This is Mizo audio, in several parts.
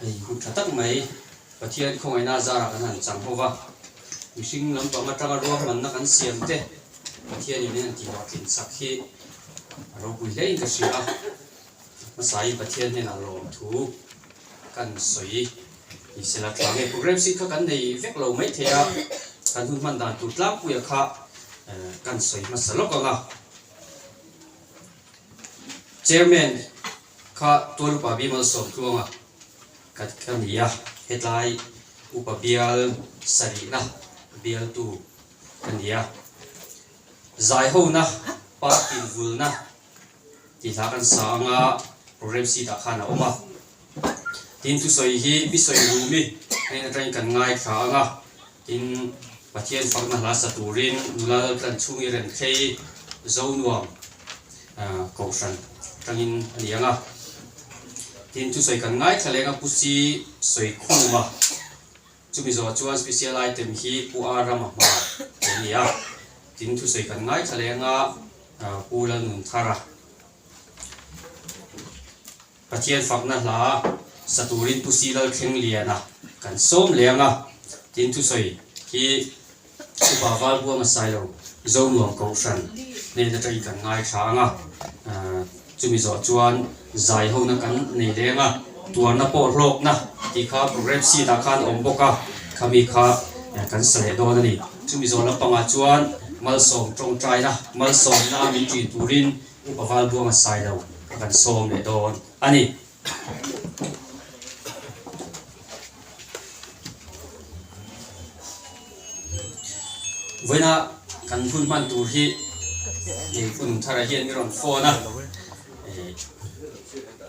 Hei hmu tha tak mai Pathian khawngaihna zarah kan han chang ho va, mihring lam pang atanga ruahmanna kan siam te Pathianin min han tihah tlinchak hi a ropui hlein ka hria a, hmasain Pathian hnenah lawm thu kan sawi ni sela tlang nge program sik kha kan nei vek lo maithei a, kan hun hman dan tur tlangpuia kha kan sawi hmasa lawk ang a. Chairman kha Tuan Upa Bimal Sawmtluanga ka ka ni a, hetlai Upa Bial sarihna bialtu ka ni a. Zaihona party vulna tihlah kan sa anga program seat ah khan a awm a, Tin thusawi hi bisawi duh mi hnen atangin kan ngaithla ang a, tin Pathian fakna hla sa turin nula lo tlan chhung hi remthlei zo nuam kohhran atangin a ni ang a. Tin thusawi kan ngaithla leng a pu si sawi khum a, chumi zawh chuan special item hi pu a ram a hma tih a ni a, tin thusawi kan ngaithla leng a pu Lalnunthara. Pathian fakna hla sa turin Pusi Lal Thleng Liana kan sawm leh ang a, tin thusawi hi Upa Valbua Masailo Zo Nuam Kohhran nen aṭangin kan ngaithla ang a, chumi zawh chuan zai hona kan nei leh ang a, tuarna pawh hlawkna tih kha programme sheet ah khan a awm bawk a, khami kha kan sa leh dawn a ni. Chumi zawh lampangah chuan malsawm ṭawngṭaina, malsawmna min ṭin turin Upa Valbuang a sai lo ka kan sawm leh dawn a ni. Vawiina kan hun hman tur hi hei Phunung Thar a hian min rawn phone a,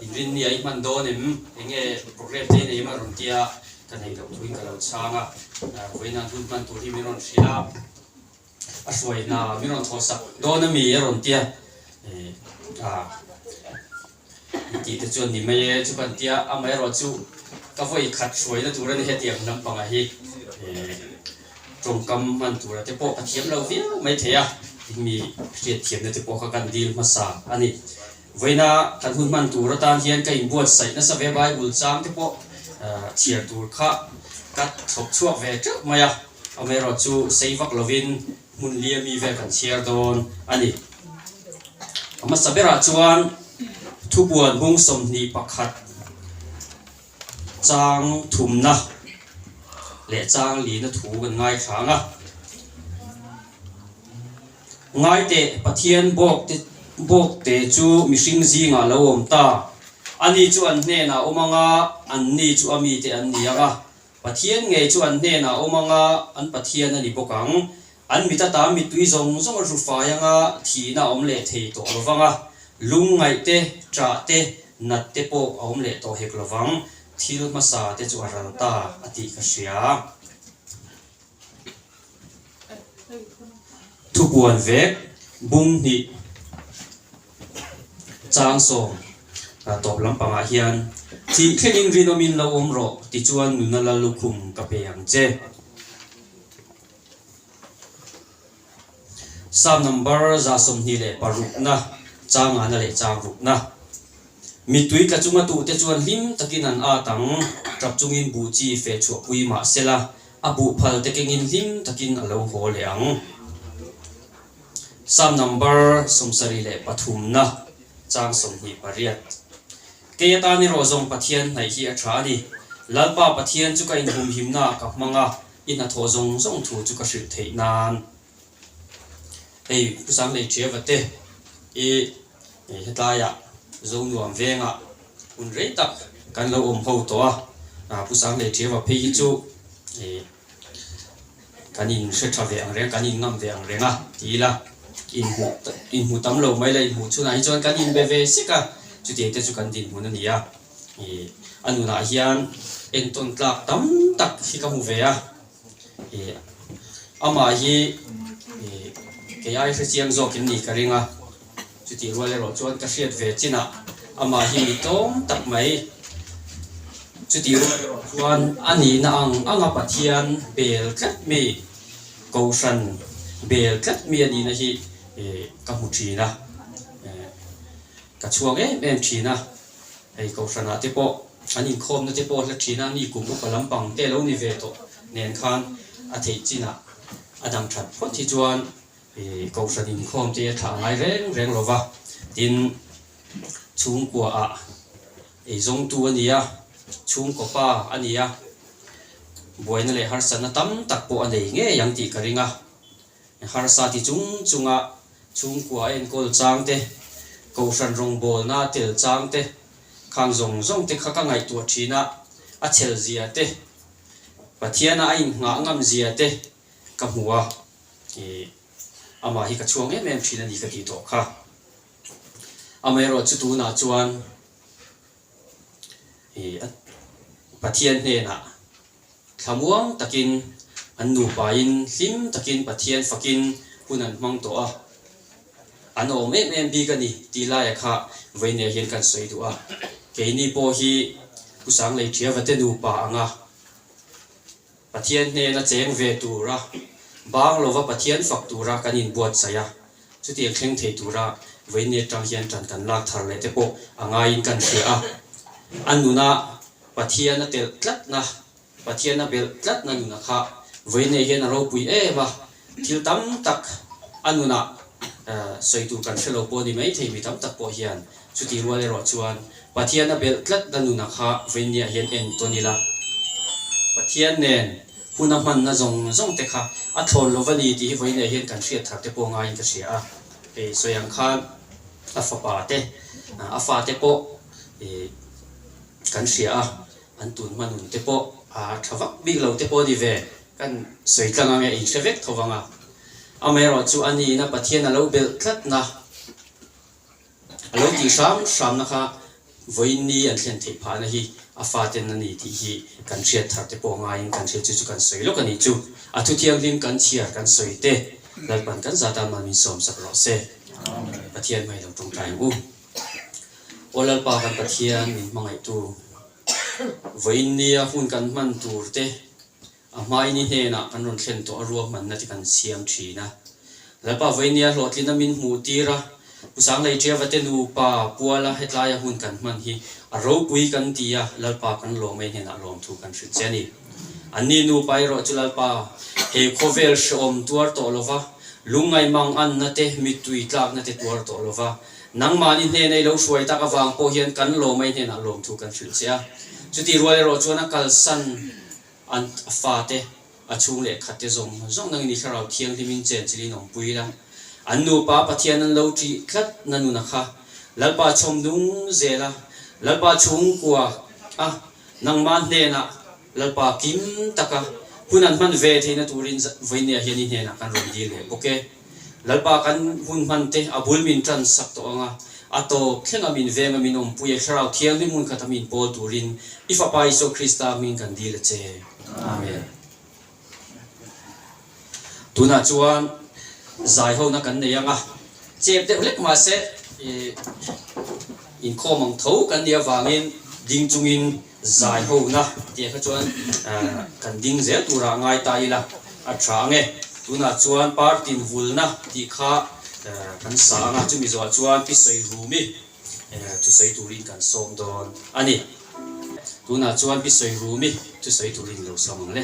in rinmia i hman dawn em, enge program te nei em a rawn ti a, ka neih loh thuin ka lo chhang a, vawiina an hun hman tur hi min rawn hria. a hruai hna min rawn thaw sak dawn a mi a rawn ti a, aa i tih te chuan ni mai e chu kan tia amaherawh chu ka vawi khat hruaina tur a ni hetiang hnam panga hi tawngkam hman tura te pawh ka thiam lo viau mai thei a mi hriat thiamna te pawh kha kan dil hmasa a ni. Vawiina kan hun hman tur atan hian ka inbuatsaih nasa ve Bible chang te pawh chhiar tur kha ka thlawp chhuak ve teuh mai a, amaherawhchu chu sei vak lovin hmun liami vel kan chhiar dawn a ni. A hmasa berah chuan thupuan hmung sawmhnih pakhat. Chang thumna leh chang lina thu kan ngaithlang a, ngaite Pathian bawkte bawkte chu mihring zingah lo awm ta, ani chu an hnenah awm anga anni chu amite an ni anga Pathian ngei chu an hnenah awm anga an Pathian a ni bawk ang. An mit ata mittui zawng zawng a hlu fai anga thihna a awm leh thei tawh lo vang a, lung ngaih te, ṭah te, nat te pawh a awm leh tawh hek lo vang. Thil hmasa te chu a ral ta a tih ka hria. Thupuan vek, bum hnih, chang sawm tawp lampangah hian thih thlengin rinawmin lo awm rawh ti chuan nunala lukhum ka pe ang che. Psalm number za sawmhnih leh parukna, changahna leh changrukna. Mitui tla chunga tuhte chuan hlim takin an at ang, ṭap chungin buh chi feh chhuahpui mahsela, a buh phal te kengin hlim takin a lo haw leh ang. Psalm number sawmsarih leh pathumna, chang sawmhnih pariat. Kei atani rawh zawng Pathian hnaih hi a ṭha a ni. Lalpa Pathian chu ka inhumhimnaah ka hmang a, i hnathawh zawng zawng thu chu ka hrilh theih nan hei Pu Sanglei Ṭiava te i hetilaia zo nuam venga hun rei tak kan lo awm ho tawh a, Pu Sanglei Ṭiava phei hi chu kan in hre ṭha ve ang reng, kan in ngam ve ang reng a ti ila, inhmuh tam lo mai la, inhmuh chhunah hi chuan kan inbe ve sik a, chutiang te chu kan dinhmun a ni a. A nunah hian entawn tlak tam tak hi ka hmu ve a, amah hi kei ai hrechiang zawkin ni ka ring a, chutih rual erawh chuan ka hriat ve chinah amah hi mi tlawm tak mai, chutih rual erawh chuan a nihna ang anga Pathian bel tlat mi, Kohhran bel tlat mi a nihna hi ka hmu thin a. Ka chhuang em em thin a, hei kohhranah te pawh an inkhawmna te pawh hla thin a, mi kum upa lampang te lo ni ve tawh nen khan a theih chinah a dang that phawt hi chuan kohhran inkhawm te a thlah ngai reng reng lo va, tin chhungkua ah ei zawng tu a ni a, chhungkaw pa a ni a, buaina leh harsatna tam tak pawh a nei ngei ang tih ka ring a. I harsa ti chung chunga chhungkua enkawl chang te, Kohhran rawngbawlna tel chang te, khang zawng zawng te kha ka ngaihtuah thin a, a chhel zia te, Pathiana a inhnghah ngam zia te ka hmu a, i amah hi ka chhuang em em thin a ni ka ti tawh kha. Amaherawh chu tunah chuan i Pathian hnenah, Thlamuang takin an nupaiin hlim takin Pathian fakin hun an hmang tawh a, an awm em em bik a ni tih laia kha vei nêl hian kan sawi duh a, keini pawh hi Pu Sanglei Thiavate nupa anga Pathian hnêna chêng ve tûra, bâng lova Pathian fak tûra kan inbuatsaih a, Chuti a thleng thei tura Vainnet tang hian tan kan lak thar leh te pawh a ngaiin kan hria a. A nuna Pathian a telh tlatna, Pathian a belh tlatna nuna kha Vainnet hian a ropui em a. Thil tam tak a nuna sawi tur kan hrelo pawh a ni maithei. Mi tam tak pawh hian chuti rual erawh chuan Pathian a belh tlatna nuna kha Vainnet hian en tawh nila. Pathian nen. Huna hmanna zawng zawng te kha a thlawn lo va ni tih hi vawiin leh hian kan hriat thar te pawh ngaiin ka hria a, ih sawi ang khan a fapa te a fa te pawh ih kan hria a, an tun hmanun te pawh a tha vak bik lo te pawh a ni ve. Kan sawi tlang ang e, inhre vek tho vang a, amaherawhchu a ni ina Pathian a lo belh tlat na A lo tih hram hramna kha vawiin ni an thlen theih phahna hi a faten a ni tih hi kan hriat thar te pawh ngaiin kan hriat chu chu kan sawi lawk a nih chu. A thu thianghlim kan chhiar kan sawi te Lalpan kan za tan man min sawmsak rawh se. Pathian hmai lo tawngtai ang u. Aw Lalpa kan Pathian min hmangaihtu, vawiin nia hun kan hman tur te A hmai ni hnenah kan rawn thlen tawh a ruahmanna te kan siam thin a. Lalpa Vainia hlawhtlina min hmuh tir a, Pu Sanglei Tiavate nupa Puala hetlaia hun kan hman hi a ropui kan ti a, Lalpa kan lawmei hnenah lawm thu kan hrilh che a ni. Anni nupa erawh chu Lalpa he khawvel hrehawm tuar tawh lova, lungngai mang anna te, mittui tlakna te tuar tawh lova, nangmahni hnena i lo hruai tak avang pawh hian kan lawmei hnenah lawm thu kan hrilh che a. Chutih rual erawh chuan a kalsan. An fa te, a chhung leh khat te zawng zawng nangin i Thlarau Thianghlimin chen chilh in awm pui la. An nupa Pathian an lo ṭih tlat na nuna kha Lalpa chhawm nung zel a, Lalpa chhungkuah a, nangma hnenah Lalpa kim taka hun an hman ve theihna turin vawinia hian i hnenah kan rawn dil leh bawk e. Lalpa kan hun hman te a bul min tan sak tawh ang a, a tawp thleng a min veng a min awmpui a, Thlarau Thianghlim hmun khat a min pawl turin i Fapa Isua Krista hmin kan dil a che. Amen. Tunah chuan zaihona kan nei ang a, chep deuh hlek mah se inkhawm ang tho kan nih avangin ding chungin Zai ho na tia kha chuan kan ding zel tura ngai ta ila a tha ange. Tunah chuan party in vul na tih kha kan sa anga chumi zawh ah chuan pi sawi rumi thu sawi turin kan sawm dawn a ni. Tunah chuan pi sawi rumi thu sawi turin lo sawm ang le.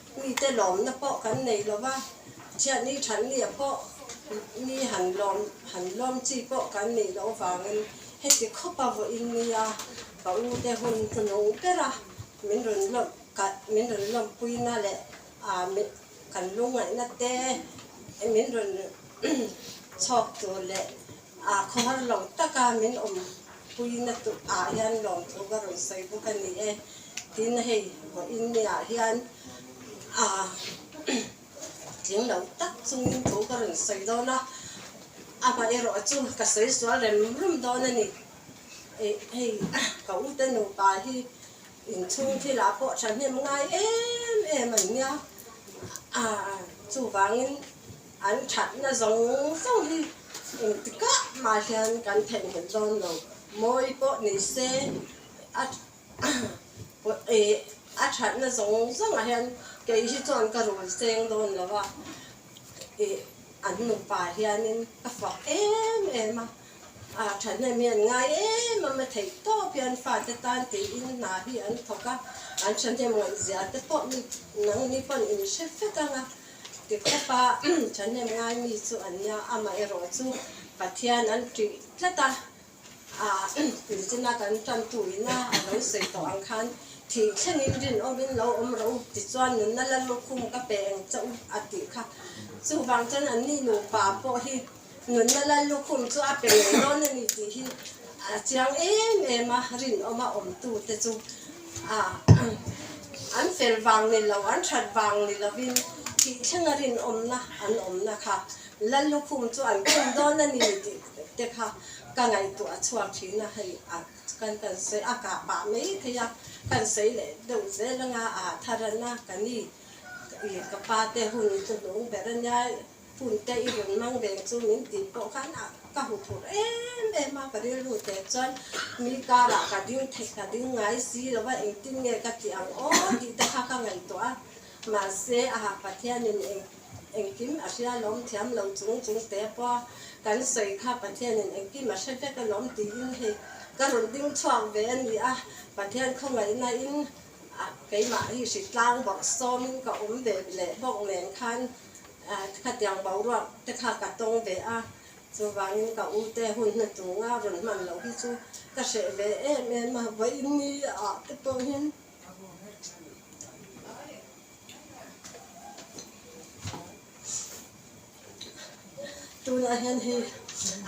Mite lawmna pawh kan nei lo va, Thianghni thatnia pawh mi han lawm, han lawm chi pawh kan nih loh avangin heti khawpa vawiin nia ka ute hun hunung bera min rawn lawm, min rawn lawmpuina leh kan lungngaihna te min rawn chhawk tur leh Aa khawhar lo taka min awm pui na tuh ah hian lawmthu ka rawn sawi bawk a ni e. Tin, hei vaw in mi ah hian aa tling lo tak chung in thu ka rawn sawi dawn a, amah erawh chu ka sawi sual rem rem dawn a ni. Hei ka ute nupa hi inchhung thil ah pawh thahnem ngai em em an nia, aa chuvang in. An thatna zawng zawng hi engtikah mah hian kan theihnghet dawn lo. Mawi pawh ni se, a thatna zawng zawngah hian kei hi chuan ka rul seng dawn lo a, an nupa hianin ka fuak em em a, a thatna mi an ngai em em a, theih tawp hian fate tan tiin hna hi an thawk a, an thahnem ngaihzia te pawh nangni pawn in hre fek ang a. Tiktak a thahnem ngai mi chu a nia, amah erawh chu Pathian an ṭih tlat a, Inchina kan ṭantu ina a lo sawi tawh ang khan thih thlenin rinawmin lo awm ro tichuan nunna lal lukhum ka pe eng chauh a tih kha. Chuvang chuan an ni nupa pawh hi Nunna lal lukhum chu a pe nei dawn a ni tih hi a chiang em em a, rinawma awmtute chu an fel vang ni lo, an that vang ni lovin thih thlenga rinawmna an awmna kha lal lukhum chu an khum dawn a ni tih te kha ka ngaihtuah a chhuak thin a, hei kan kan sawi a kah pah mai thei a, kan sawi leh deuh zel anga a tharan a, ka ni ka pate hun tlu lung ber a nia. Hun te i rawn mang ve chu min tih pawh khan a ka hmu thur em em a, ka rilru teh chuan mi karah ka ding thei ka ding ngai si lo va, engtin nge ka tih ang aw tih te kha ka ngaihtuah a, mahse aha Pathianin eng engkim a hria lawm thiam lo chung chung teh pawh a, kan sawi kha Pathianin engkim a hre vek alawm tiin hei ka rawn ding chhuak ve a ni a, Pathian khawngaihna in. Keimah hi hri tlang bawk sawmin ka awm ve leh bawk nen khan khatiang boruak te kha ka tawng ve a, chuvangin ka u te hun hnu tunga rawn hman loh hi chu ka hreh ve em em a, vawiinni ah te pawhin tunah hian hei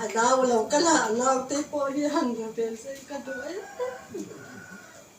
a nau lo ka la a naute pawh hi han va vel sawi ka duh em em.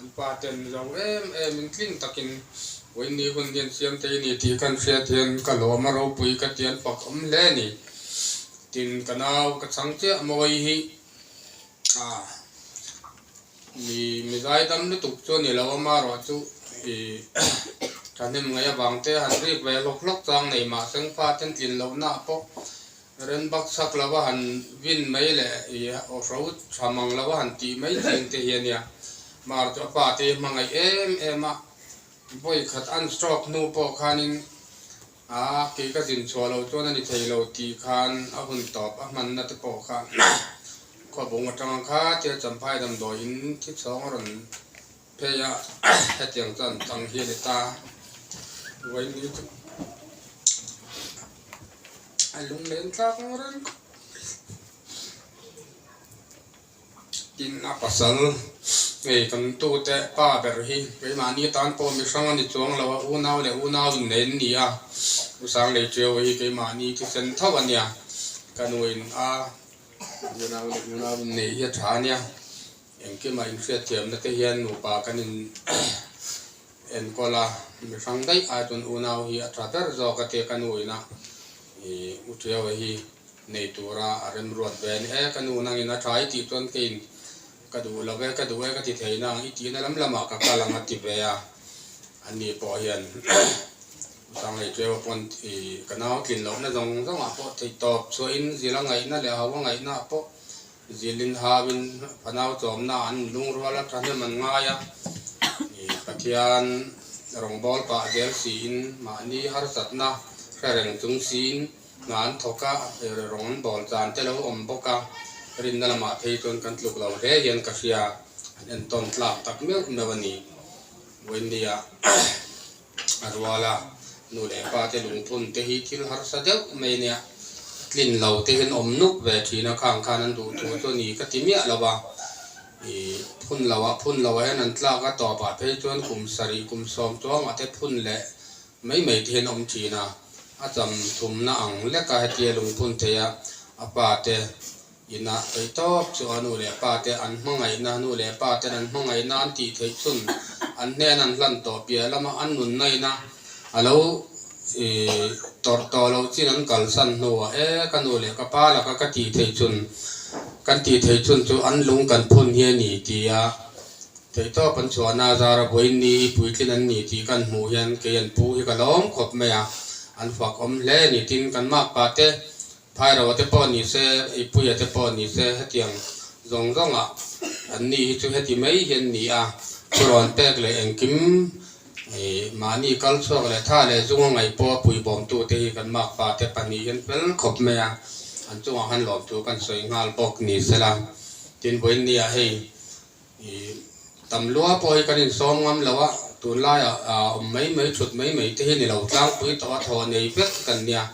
An pa ten zo em em in tling tak in Wain ni hun hian thiam thei a ni tih ka hriat hian ka lawm a, ropui ka ti an fak awm hle a ni tin ka nau ka chhang chiah maw i hi ah mi mizai dam lutuk chuan i lo ama ruah chu i thahnem ngei avang te han rip ve hlawk hlawk chuang nei mah sengfa ten tlin loh na pawh Ren bak chak lo va han vin mai le i aw hro tha mang lo va han tih mai thin te hi a nia. Mar chu a pa te hi a hmangaih em em a, vawi khat an stroke hnu pawh khanin aa kei ka zin chhuah lo chuan a ni thei lo tih khan a hun tawp a hmanna te pawh khan khuabung atanga khatia Champhai damdawiin thithlawng a rawn Phei a, hetiang chuan chang hi a ni ta, Vaini chu a lunglen tlak ang reng. Tin a pasal ngei kan tute pa ber hi keimahni tan pawh mi hrang a ni chuang lo a, unau leh unau inneih an ni a, U Sanglei Teo hi keimahni thisen tho a nia, ka nuin a unau leh unau inneih hi a tha a nia. Engkima inhriatthiamna te hian nupa kan in enkawl a, mi hrang daih ai chuan unau hi a tha ber zawk a tia ka nu ina i u Tiaua hi nei tura a remruat ve a ni e, ka nu nangin a tha i tih chuan ka in ka duh lo ve ka duh e ka ti thei nang i tihna lam lamah ka kal ang a ti ve a, anni pawh hian u Sanglei Tiaua pawn i ka nau tlin lohna zawng zawngah pawh theihtawp chhuahin zila ngaihna leh haua ngaihna ah pawh Zil inhauin fanau chawmnaah an inlungrual a, thahnem an ngai a, Pathian rawngbâwl pah zel siin mahni harsatna hre reng chung siin hna an thawk a, rawn an bawl chan te lo awm bawk a, rinna lamah phei chuan kan tluk lo hle hian ka hria an entawn tlak tak meuh meuh a ni, Vawinia. A ruala nu leh pa te lungphun te hi thil harsa deuh mai nia tlin lo te hian awm nuk ve thin a khang khan an duh tur chu ani ka ti miah lo va i phun lo a phun lo ah hian an tlak a tawp ah phei chuan kum sarih kum sawm chuang ah te phun leh mai mai te hian awm thin a a cham thum na ang lek a hetia lungphun theih a a pa te Inah tei tawk chu a nu leh pa te an hmangaihna, nu leh pa ten an hmangaihna an tih theih chhun an hnena an hlan tawh piah lam a, an nunnaina a lo tawrh tawh lo chin an kalsan hnuah e ka nu leh ka pa laka ka tih theih chhun kan tih theih chhun chu an lung kan phun hi a ni tih a theih tawp an chhuahna a zara vawiin ni i puitlin an ni tih kan hmuh hian kei an pu hi ka lawm khawp mai a, an fuak awm hle ni tin kan makpa te Thairava te pawh ni se, i puia te pawh ni se, hetiang zawng zawng ah an ni hi chu heti mai hi an ni a, thurawn pek leh engkim ih mahni kal chhuak leh tha leh zunga ngaih pawha pui bawm tu te hi kan mak pa te pahnih hian fel khawp mai a, an chungah khan lawmtu kan sawi nghal bawk ni sela, tin vawiin nia hei. I tam lua pawh hi kan insawm ngam lo a, tunlaiah a awm mai mai thut mai mai te hi ni lo, tlangpui tawh a thaw nei vek kan nia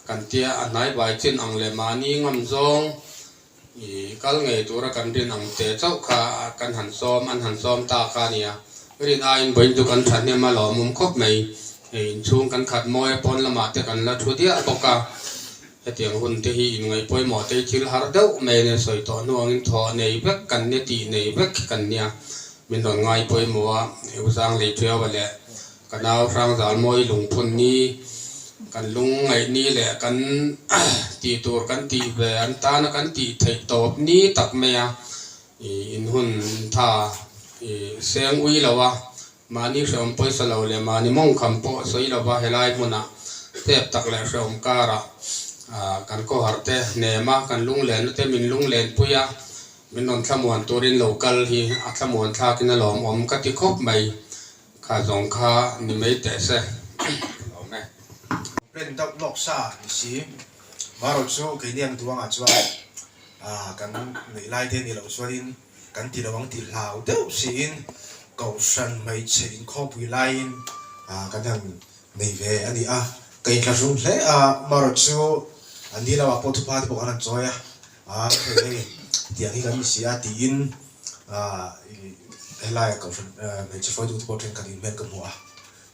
kan ti a, a hnaibai chin ang leh mahni ngam zawng i kal ngei tura kan rin ang teh chauh kha kan han sawm an han sawm ta kha nia, rin aiin Bawinndu kan thahnem a lawmawm khawp mai, hei inchhung kan khat mawi a pawn lamah te kan la thu diah bawk a. Hetiang hun te hi inngaihpawimawhtei thil har deuh mai nen sawi tawh hnuangin thawh nei vek kan nia tih nei vek kan nia. Min rawn ngai pawih maw a, U Zang Leichuiaua leh ka nau Hrang Zalmawi Lungphun ni kan lung ngaih ni leh kan tih tur kan tih ve an tana kan tih theih tawp ni tak mai a, i inhun tha i seng ui lo a. Mahni hreawm pawisa lo leh mahni mawngkham pawh sawi lova helai hmuna tep tak leh hreawm kara kan khawhar te nem a, kan lunglenna te min lunglenpui a, min rawn thlamuan turin lo kal hi a thlamuan thlakin a lawm awm ka ti khawp mai kha zawng kha ni mai teh se ka lawm e. Pen deuh lawk sa ni si marawh chu keini an duangah chuan kan neih lai te ni lo chuan in. kan tilo ang tih hlau deuh siin Kohhran hmeichhe inkhawpui laiin kan han nei ve a ni a, ka inthlahrung hle a, Marot chu an ni lamah pawh thupa te pawh kan han chawi a, khawih hei tiang hi kan ni si a tiin helaia Kohhran hmeichhe fawitu te pawh thenkhat inhmel ka hmu a.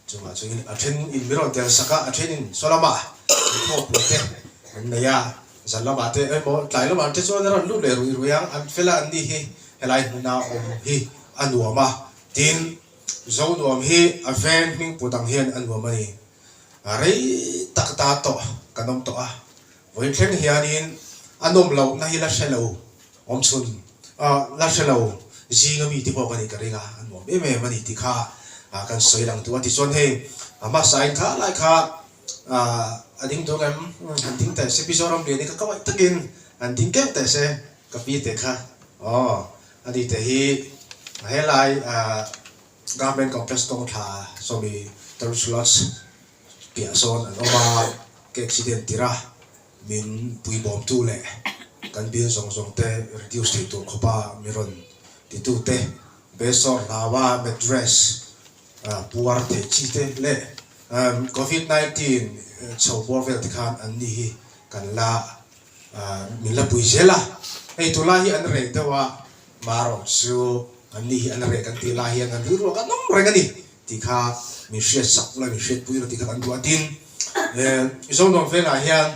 Chungah chungin a then in mirawn tel sak a, a then in saw lamah an thawkpui te an nei a, zal lamah te emaw tlai lamah te chuan a rawn lut leh ruih ruih ang, an fel a anni hi helai hmuna awm hi a nuam a, tin zo nuam hi a veng hming put ang hian a nuam a ni, rei tak ta tawh kan awm tawh a, Vawi thleng hianin a nawm loh na hi la hre lo awm chhun ah la hre lo zinga mi te pawh ka nih ka ring a, a nuam em em a ni ti kha kan sawi lang tu a ti chuan hei hmasa in kha lai kha ah a ding tum em han ding teh se Mizoram rian hi ka kawai takin han ding keuh teh se ka pi teh kha aw a ni teh hi he lai ah Government Complex kawngthla sawmi Tarun Slots piah zawn an awm a, ka accident tirh a, min pui bawm tu leh kan bill zawng zawng te reduce theih tur khawpa min rawn ti tu te, Besawr hlauva mattress puar theih chi te leh covid nineteen chho bawr vel te khan an ni hi kan la min la pui zel a, hei tu lai hi an rek deuh a, marawk chu an ni hi an rek kan tih lai hian an rilru a kan awm reng a ni tih kha min hriat sak la, min hriat pui la tih kha kan duh a tin Mizo nuam velah hian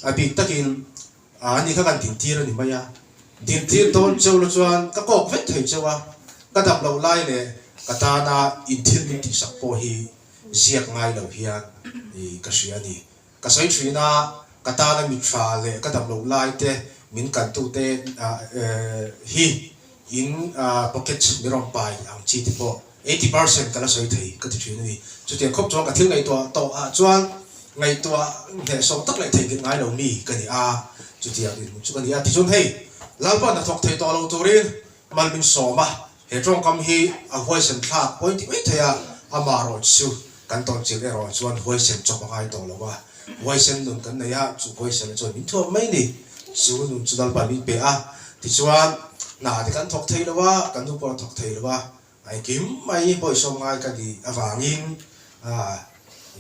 a bik takin an ni kha kan din tir a ni mai a, din tir dawn cheu la chuan ka kawk vek thei cheu a, ka dam loh lai leh ka tana in thil min tih sak pawh hi ziak ngai lo hian ka hria a ni. Ka sawi thin a, ka tana mittha leh ka damloh lai te min kantu te hi in pocket mirawng pai ang chi te pawh eighty percent ka la sawi thei ka ti thin a ni. Chutiang khawp chuan ka thil ngaihtuah tawh ah chuan ngaihtuah hnehsawm tak leh thei nghet ngai lo mi ka ni a, chutiang rinawm chu ka ni a. Tichuan hei Lalpuan hnathawk thei tawh lo turin mal min sawm a, He tawngkam hi a huaisen thlak pawi ti mai thei a, amah rawh chi chu kan tawngchil erawh chuan huaisen chawp a ngai tawh lo a, huaisen nun kan nei a, chu huaisen a chuan min thuam mai ni, chu nun chu lal pali pe a, tichuan hna te kan thawk thei lo a, kan nu pawh a thawk thei lo a, a engkim mai bawisaw ngai ka nih avangin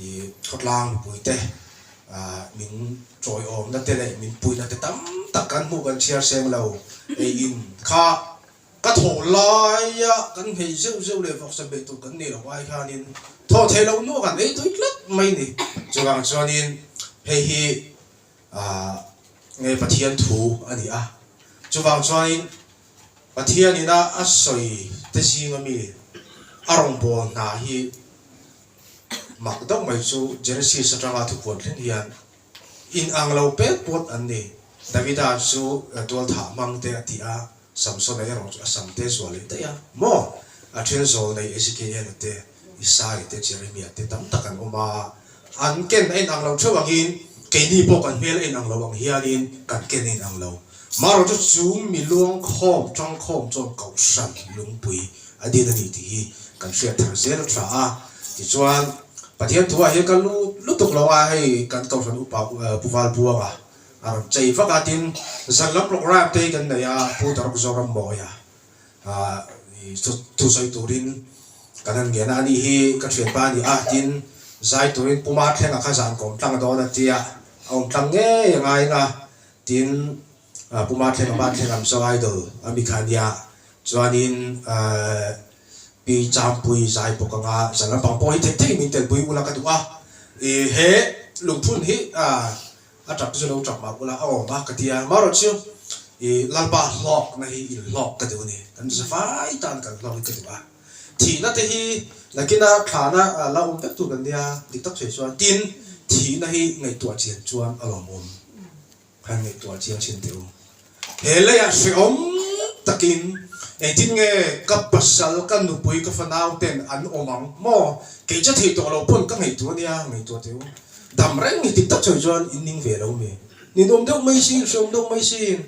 i khawtlang mipui te min chawiawmna te leh min puihna te tam tak kan hmuh kan chhiar seng lo, eiin kha. Ka thawh laia kan hmei zeuh zeuh leh vawksa beh tur kan neilo ai hianin thawh theih loh nu a kan ei tui tlat mai ni. Chuvang chuanin hei hi ah nge Pathian thu a ni a, chuvang chuanin Pathianin a a sawi te zinga mi a rawngbâwl hna hi mak deuh mai chu Genesis aṭanga thupuan thleng hian inang lo pêt pawt an ni. Davida chu tualthah hmang te a ti a. Samson a erawh chu a sam te zual leh daih a, maw? A then zawl nei Ezekiela te, Isai te, Jeremia te tam tak an awm a, an ken a inang lo theuh angin keini pawh kan hmel a inang lo ang hianin kan ken a inang lo. Marawh chu chu mi luangkhawm ṭangkhawm chuan Kohhran lungpui a din a ni tih hi kan hriat thar zel a tha a, tichuan Pathian thuah hi ka lut lutuk lo a, hei kan Kohhran upa Puvalbuanga A rawn chei vak a, tin zal lam rawkraip te hi kan nei a, Pu Daruk Zoram Mawia chu thu sawi turin kan han ngen a, a nih hi ka thianpa a ni a, tin zai turin Pu Mar Thleng a kha zan kawm tlang dawn a tia a awm tlang ngei anga enga, tin Pu Mar Thleng a va thleng ang saw idol a mi kha a nia, chuanin Pi Champui zai bawk anga zal lampang pawh hi thei thei min telpui ula ka duh a, he lungphun hi A ṭap te chu lo ṭap mah ula a awm a ka ti a, amaherawh chu i Lalpa hlawkna hi inhlawk ka duh a ni, kan riza fai tan kan hlawkin ka duh a, thihna te hi nakina thlana la awm vek tur kan nia dik tak hre chuan tin thihna hi ngaihtuah chian chuan alawm awm, han ngaihtuah chian ṭhin teh u. He leiah hrehawm takin engtin nge ka pasal, ka nupui, ka fanauten an awm ang maw? Kei che theih tawh lo pawn ka ngaihtuah ania, ngaihtuah teh u. Dam reng hi tik tak chawih chuan in ning ve lo mi. Nin awm deuh mai sin, hre awm deuh mai sin,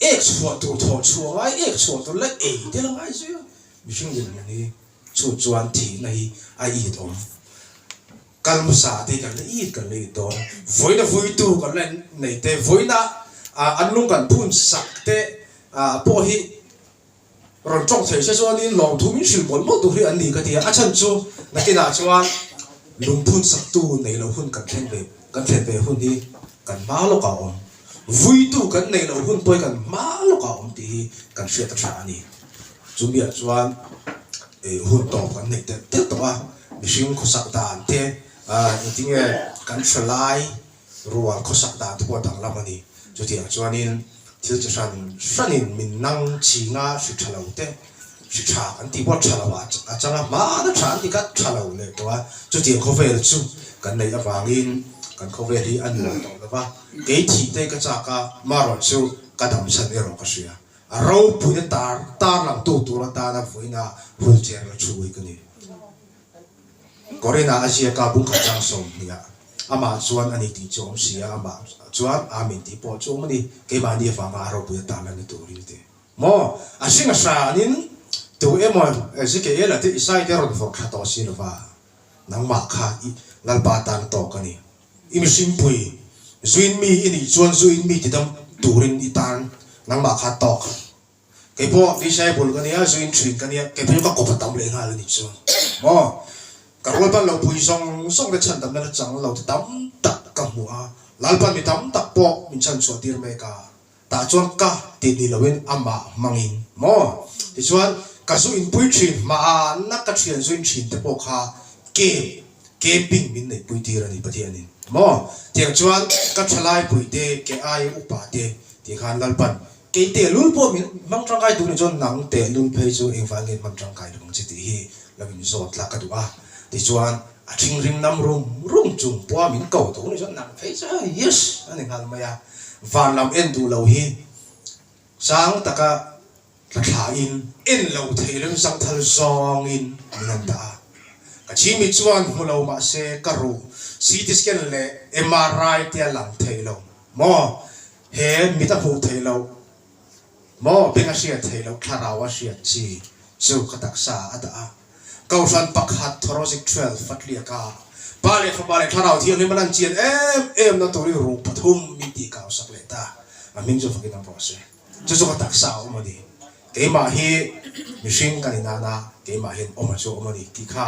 ek chhuah tur thaw chhuah ngai, ek chhuah tur la ei tel ngai zui a, mihring lim hun hi chu chuan thihna hi a itawm. Ka lu sa te hi kan la it kan la it dawn a, vawiina vawitu kan la en nei te, vawiina ah an lung kan phun sak te ah pawh hi rawn tawng thei se chuan in lawmthu min hrilh mawlh mawlh tur hi an ni ka ti a, a chhan chu na tin ah chuan lung phun sak tu nei lo hun kan thleng ve kan thlen ve hun hi kan hma lawk ah awm, vawitu kan nei lo hun pawh hi kan hma lawk ah awm tih hi kan hriat a tha a ni. Chu mi ah chuan hun tawp kan nei tel tel tawh a. Mihring khawsak dan te, engtinge kan hre lai rual khawsak dan te pawh a danglam a ni. Chutiang chuanin thil chi hran hranin min nang chinga hri tha lo te, hri tha kan tih pawh tha loh a chang a, hmana tha an ti kha tha lo leh tawh a, chutiang khawvel chu kan neih avangin kan khawvel hi a nuam tawh lo va, kei thih te ka chak a, marawh chu ka damchhan erawh ka hria. A ropuia tar tar lang tu tur atan a vuina hul cher la thu ui ka ni. Corinna a ziak a bungkhat chang sawm hnih ah. Amah chuan ani tih chu a awm si a, amah chuan aa min tih pawh chu a awm a ni. Keimahni avanga a ropuia tar la ni tur ring te maw? A hring a hra anin tu emaw Ezekiel a tih Isai te rawn vawrh tha tawh si lova. Nangmah kha i Lalpa atan a tawk a ni. I mihring pui zuin mi i nih chuan zu in mi ti dam turin i tan nangmah kha tawk. Kei pawh vcci bul ka nia, zuin thin ka nia, kei pawh chu ka kawp a tam leh nghal a nih chuang maw? Ka rualpan lo pui zawng zawng te chhan damna chang lo te tam tak ka hmu a, lalpan mi tam tak pawh min chhan chhuah tir mek a. Tah chuan ka ti hnih lohin amah hmangin maw? Tichuan ka zu inpui thin hma a, na ka thian zuin thin te pawh kha kem camping min neih pui tir a ni pahnih a ni maw? Tiang chuan ka thalai pui te, ke aia upa te tih khan Lalpan kei te lul pawh min hmang tangkai tur nih chuan nang te lul phei chu engvai ngen hman tangkai lo ang che tih hi lo inzawt la ka duh a. Tichuan. A thingrim nam rum rum chu Puam in ko duh ni zawh nang phei chu a yes a ni nghal mai a, van lam en duh lo hi sang taka hla thla in en lo thei reng zang thal zawng in min han dah a, ka chhim mi chuan hmu lo mah se ka ruh CT scan leh MRI te a lang thei lo maw he mit a hmuh theih loh. Maw peng a hriat theih loh thlarau a hriat chi chu ka taksa a dah a. Kohhran pakhat Thorozik twelve Fatliak a Pa leh Fapa leh Thlarau thiang hi man an chian em em na tur i ru pathum min tih kau sak leh ta, a hming chu fakin an ruah se chu chu ka taksa a awm a ni. Keimah hi mihring kan inan a keimah hian awm a chu awm a ni tih kha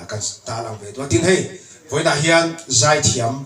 kan ta lang ve dual tin hei vawiinah hian zai thiam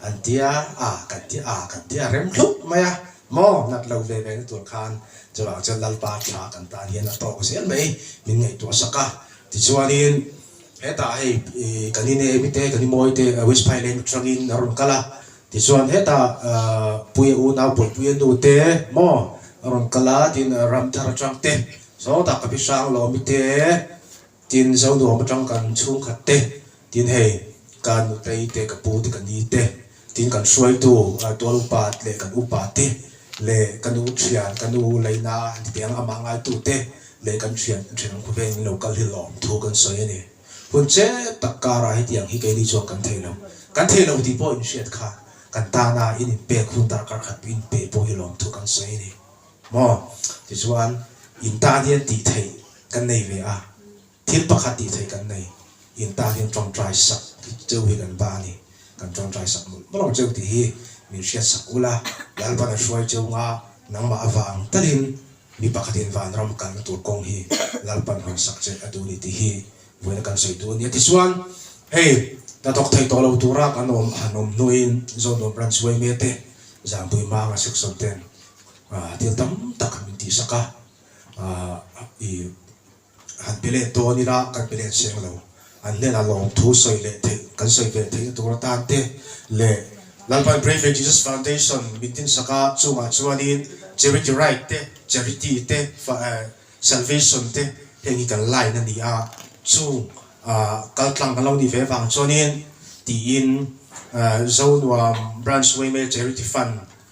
An tia a, kan tia a, kan tia rem hlup mai a, maw nat lo ve ve na tur khan chuvang chuan Lalpa tha kan tan hian a tawk zel mai, min ngaihtuah sak a, tichuanin hetah hei kan i nei mite, kan i mawi te West Phailein aṭangin a rawn kal a, tichuan hetah Puia unau pawi puia nu te maw a rawn kal a, tiin Ramthar aṭang te sawtah ka hrihrang lawm mite. Tin, Zo nuam atang kan chhungkhat te, tin hei kan nutei te, ka pu te, ka ni te, tin kan hruaitu tual upa leh kan upa te leh ka nu thian, ka nu leina an ti teh ang amah ngaitu te leh kan thian thinrim khaw vengin lo kal hi lawm thu kan sawi a ni. Hun che tak karah hetiang hi keini chuan kan thei lo, kan thei lo tih pawh in hriat kha kan tana in inpek hun darkar khat in pe pawh hi lawm thu kan sawi a ni. Maw? Tichuan, in tan hian tih theih kan nei ve a, thil pakhat tih theih kan nei, in tan hian ṭawngṭai sak hi cheu hi kan ba a ni, kan ṭawngṭai sak mawlh mawlh ang cheu tih hi min hriat sak ulh a, Lalpan a hruai cheu nga, nangmah avang takin mi pakhatin vanram kalna tur kawng hi Lalpan hawn sak che a duh ni tih hi vawiina kan sawi tu a ni a, tichuan hei ta thawk thei tawh lo tura kan awm han awm hnuin Zawnuam Ran Suaimete, Zangpuimanga section ten thil tam tak han min tih sak a, i han pe let dawn ila kan pe let seng lo, an hnenah lawm thu sawi leh theih kan sawi ve theihna tur atan te leh Lalpan Bravely Jesus Foundation min tin sak a, chungah chuanin Charity Right te, Charity te, Salvation te heng hi kan line a ni a, chung kal tlang kan lo nih ve vang chuanin tiin Zonuam Branch Waymaker Charity Fund,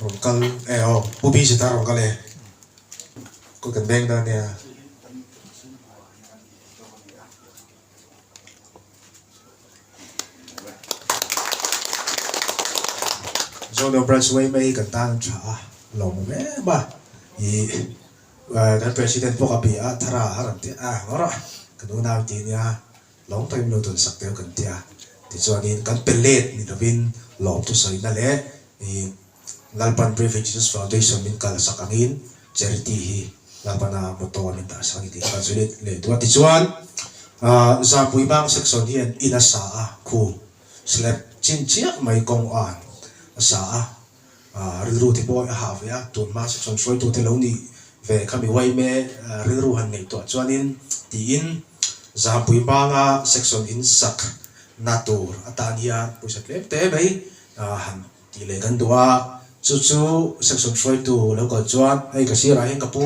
Rawn kal e aw pu busy ta rawn kal e kut kan beng dan nia. Zone of Branch Way mai kan tan tha a lo mum em a i kan president pawh ka bia thara a ran ti a ngawrh a ka nunau ti nia. Lawm pawhin lo tawn sak teu kan ti a, tichuanin kan pe let ni lovin lawm thu sawina leh i Lalpan Brave Jesus Foundation min kal sak angin charity hi Lalpana motto a min dah sak a ni tih kha chu let leh duh a. Tichuan Zahpui Bang section hian in a sa a, khum slab chin chiah mai kawng a sa a. Rilru te pawh a hah ve a, tun hma se chuan hruaitu te lo nih ve ka mi uai em e, rilru han ngaihtuah chuanin tiin Zampui hmanga section in sak na tur atan hian pawisa tlem te mai han ti leh kan duh a, chu chu section hruaitu lo kal chuan hei ka sirah hian ka pu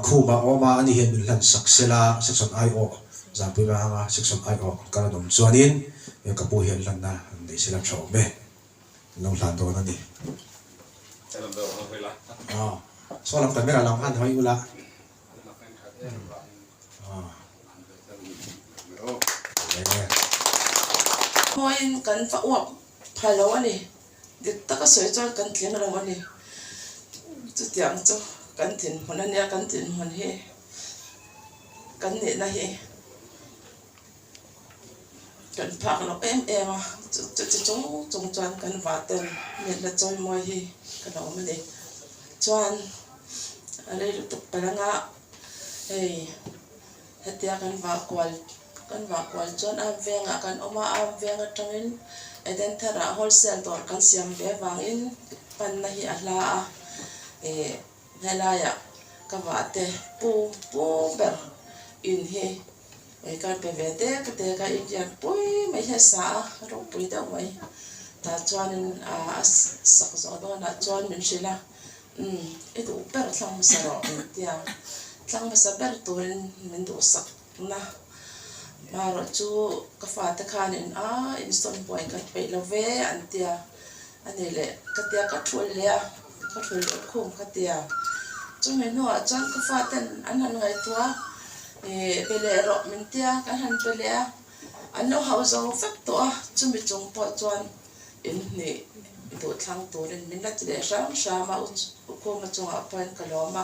Khuma a awm a, ani hian min hlan sak se la, section ai awh Zampui hmanga section ai awh kal an awm chuanin ka pu hian hlanna an nei se la tha awm e. lo hlan dawn a ni. Saw lam tamera lam han hawi ula. Khawiin kan va uap phal lo a ni. Dik taka sawi chuan kan tling lo a ni. Chutiang chu kan tlinhmun a nia, kan tlinhmun hi kan nihna hi. Kan phak loh em em a, chuti chung chung chuan kan vaten miatna chawimawi hi ka lo awm a ni. Chuan a rei lutuk pal anga hei hetia kan vah kual, kan vah kual chuan a vengah kan awm a, a veng atangin Eden Tharah wholesale dawr kan siam ve vangin panna hi a hla a, ih. Helaiah ka vate pu pu ber in hi ih kar pe ve te ka ti a, ka inriat pui mai hian sa a ropui deuh mai tah chuanin ah a sak zawh dawnah chuan min hrilh a umm i duh ber thlang hmasa rawh inti a, thlang hmasa ber turin min duh sak. Tuna hma erawh chu ka fate khan in aaa insawn buai kan peih lo ve an ti a, a ni leh ka ti a, ka ṭhul leh a, ka ṭhul leh khum ka ti a, chumi hnua chuan ka fa ten an han ngaihtuah a, ih pe leh rawh min ti a, kan han pe leh a, an lo hauh zo vek tawh a, chumi chung pawh chuan in hnih duhthlang turin min la ti leh hram hram a, u khuma chungah pawhin ka lawm a.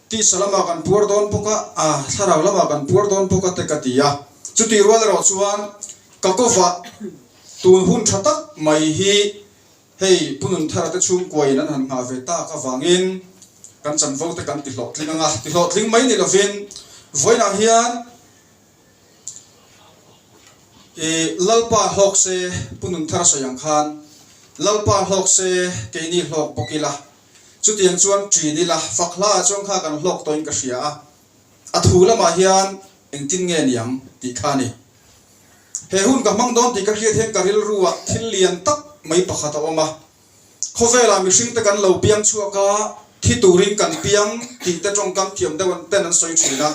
Tisa lamah kan puar dawn bawk a, a thlarau lamah kan puar dawn bawk a te ka ti a. Chutih rual erawh chuan ka kawfa tun hun tha tak mai hi hei punun tharate chhungkuain an han nghah ve tak avangin kan chanvote kan ti hlawhtling ang a. Ti hlawhtling mai ni lovin vawiinah hian i Lalpa hlawk se punun thar sawi ang khan Lalpa hlawk se keini hlawk bawk ila. Chutiang chuan ṭin ila fak hla ah chuan kha kan hlawk tawhin ka hria a, a thu lamah hian engtin nge ni ang tih kha a ni. He hun ka hmang dawn tih ka hriat hian ka rilru ah thil lian tak mai pakhat a awm a, khawvel ah mihringte kan lo piang chhuak a, thi turin kan piang tih te ṭawng kam thiam deuh an ten an sawi ṭhin a,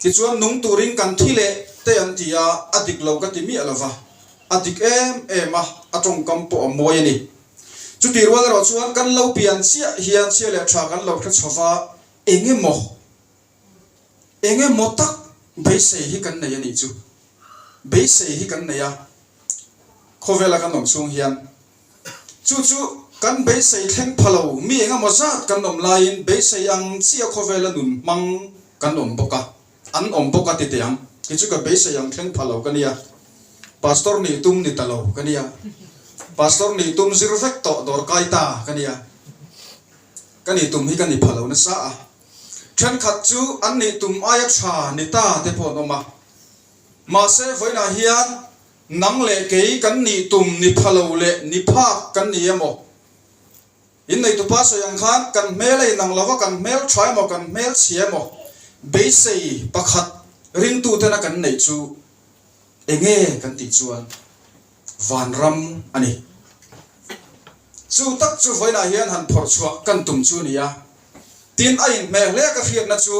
tichuan nung turin kan thi leh te an ti a, a dik lo ka ti miah lo va, a dik em em a, a ṭawng kam pawh a mawi a ni. Chutih rual erawh chuan kan lo pian chiah hian chhia leh tha kan lo hre chho va, eng emaw eng emaw tak beisei hi kan nei a nih chu. Beisei hi kan nei a, khawvela kan awm chhung hian. Chu chu kan beisei thleng pha lo, mi eng emaw zat kan awm laiin beisei ang chiah khawvela nun hmang kan awm bawk a. An awm bawk a titi ang. Kei chu ka beisei ang thleng phah lo ka nia. Pastor nih tum ni ta lo ka nia. Pastor nih tum zir vek tawh dawr kai ta ka nia. Ka nih tum hi ka ni phah lo nasa a. Thenkhat chu an nih tum aia tha ni ta te pawh an awm a. Mahse vawiinah hian nang leh kei kan nih tum ni pha lo leh ni phak kan ni emaw? In nei tupa sawi ang khan kan hmel a inang lova kan hmel tha emaw kan hmel chhia emaw beisei pakhat ringtu tena kan neih chu enge kan tih chuan vanram a ni. Chu tak chu vawiinah hian han phawrh chhuah kan tum chu nia. Tin a inhmeh hle ka hriatna chu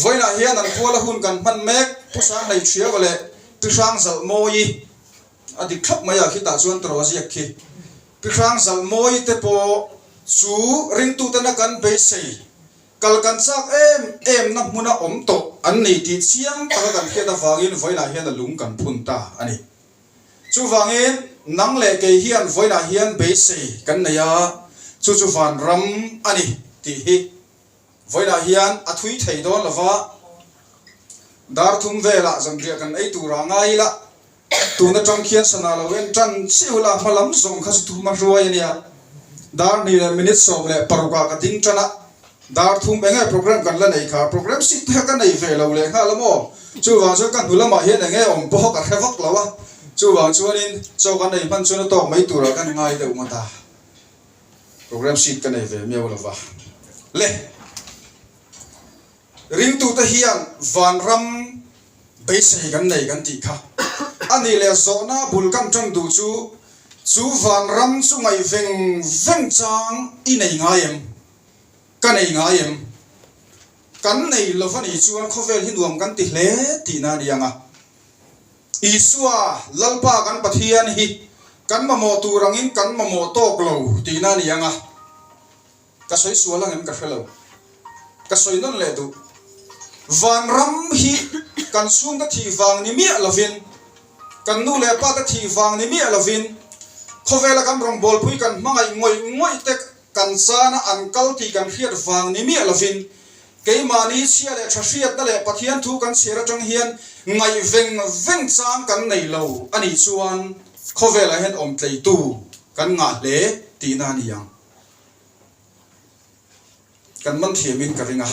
vawiinah hian an kual a hun kan hman mek Pu Sang Hneithriau leh Pi Hrang Zalh Mawi i. A dik thlap mai a khitah chuan Trawziak khi Pi Hrang Zal mawi te pawh chu ringtutena kan beisei kal kan chak em em na hmuna awm tawh an ni tih chiang taka kan hriat avangin vawilah hian a lung kan phun ta a ni. Chuvangin nang leh kei hian vawilah hian beisei kan nei a, chu chu van ram a ni tih hi vawilah hian a thui thei dawn lova, Darthum velah zawmriah kan ei tura ngai ila. tun atang khian sana lo in tan chiu la hma lam zawng kha chu thum a hruai a nia dar hnih leh minute sawm leh paruk ah ka ding tan a dar thum eng nge program kan la nei kha program sit te kha ka nei ve lo leh nghal a maw chuvang chuan ka hnu lam ah hian eng nge awm pawh ka hre vak lo a chuvang chuan in chaw kan nei hman chuan a tawk mai tur ah ka ngai deuh ngawt a program sit ka nei ve miau lo va le. Ringtute hian vanram beisei kan nei kan tih kha a nih leh, zawhna bul kan ṭan duh chu chu vanram chu ngaih veng veng chang i nei ngai em? Ka nei ngai em? Kan nei lo va nih chuan khawvel hi nuam kan ti hle tihna a ni ang a. Isua, Lalpa kan Pathian hi kan mamawh tur angin kan mamawh tawk lo tihna a ni ang a. Ka sawi sual angem ka hrelo ka sawi nawn leh duh vang ram hi kan chhungte thih vang ni miah lovin kan nu leh pate thih vang ni miah lovin khawvela kan rawngbawlpui kan hmangaih ngawih ngawih te kan chana an kal tih kan hriat vang ni miah lovin keimahni chhia leh tha hriatna leh Pathian thu kan chhiar atang hian ngaih veng veng chang kan nei lo a nih chuan khawvelah hian awmtleitu kan ngah hle tihna a ni ang. Kan man thiam in ka ring a.